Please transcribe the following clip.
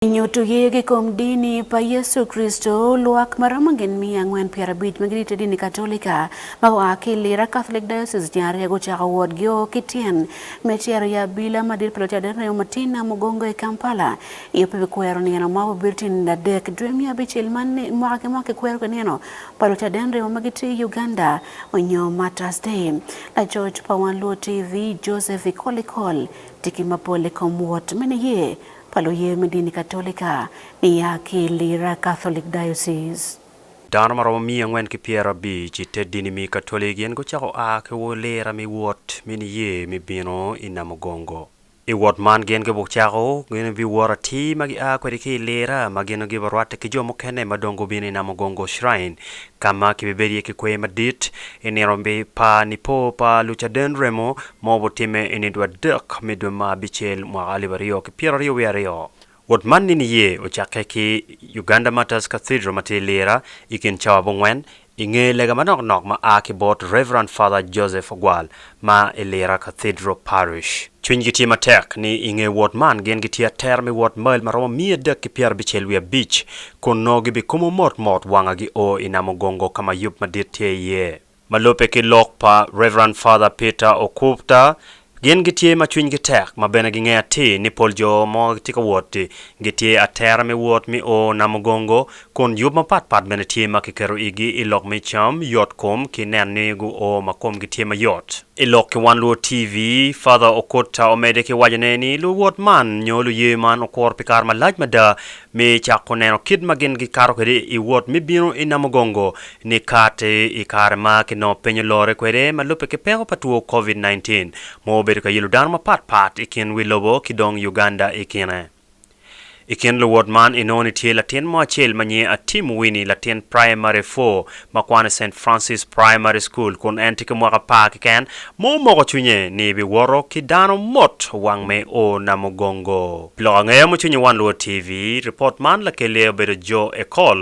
I nyutu yee gi kom dini pa Yecu Kricito, lwak ma romo gin miya angwen pyera abic ma gitye i te dini Katolika ma gua ki i Lira Catholic Diocese ceng ariya gucako wot gi o ki tyen me cito i abila madit pa Lucaden Remo ma tye i Nam Mugongo i Kampala i ope pi kwero nino ma obibedo tyen adek dwe miya abicel man ni mwaka ki mwaka ki kwero ki nino pa Lucaden Remo ma gitye i Uganda onyo Martyrs Day. Lacoc pa Wan Luo TV, Joseph Ikolikol tye ki mapol i kom wot me niyee pa luye me dini Katolika niya ki i Lira Catholic Diocese. Dano ma romo miya angwen ki pyera abic i te dini mi Katolik gin gucako a ki wo Lira mi wot mi niye mi bino i Namugongo. I wot man gin gibuk cako gin bi wot atir ma gi a kwedi ki i Lira ma gin gi bi rwatte ki jo mukene ma dong gubino i Namugongo Shrine ka ma ki bi bedo iye ki kwe madit i nino pa Nipo pa Lucaden Remo ma obitimme i nidwe adek me dwe ma abicel mwaka alip aryo ki pyera aryo wiye aryo. Wot man ni niye ocakke ki Uganda Martyrs Cathedral ma tye i Lira i kin cawa abongwen i nge lega manok nok ma a ki bot Rev. Father Joseph Ogwal ma i Lira Cathedral Parish. Cwinygi tye matek ni i nge wot man gin gitye atera me wot mail ma romo miya adek ki pyera abicel wiye abic kun nongo gibikomo mot mot wanga gi o i Namugongo ka ma yub madit tye iye. Ma lubbe ki lok pa Rev. Father Peter Okubta, gin gitye ma cwinygi tek ma bene gingeyo atir ni pol jo ma gitye ka wot gitye atera me wot me o Namugongo kun yub mapat pat bene tye ma kiketo igi i lok me cam, yot kom ki neno ni guo ma komgi tye mayot. I lok ki One Luo TV, Father Okudta omedde ki waco ne ni luwot man nyo luye man okuro pi kare malac mada me cako neno kit ma gin gikato kwede i wot me bino i Namugongo Nikati i kare ma ki nongo peny olore kwede ma lubbe ki peko pa two Covid 19 mo obedo ka yelo dano mapat pat i kin wi lobo ki dong Uganda i kine. I kin luwot man inongo ni tye latin mo acel ma nyinge a Tim Winnie latin Primary four ma kwano i Saint Francis Primary School kun en tye ki mwaka apar keken ma omoko cwinye ni bi woto ki dano mot wang me o Namugongo. Pi lok angeya mucwiny i Wan Luo TV, ripot man lakelli aye obedo Joe Ekol.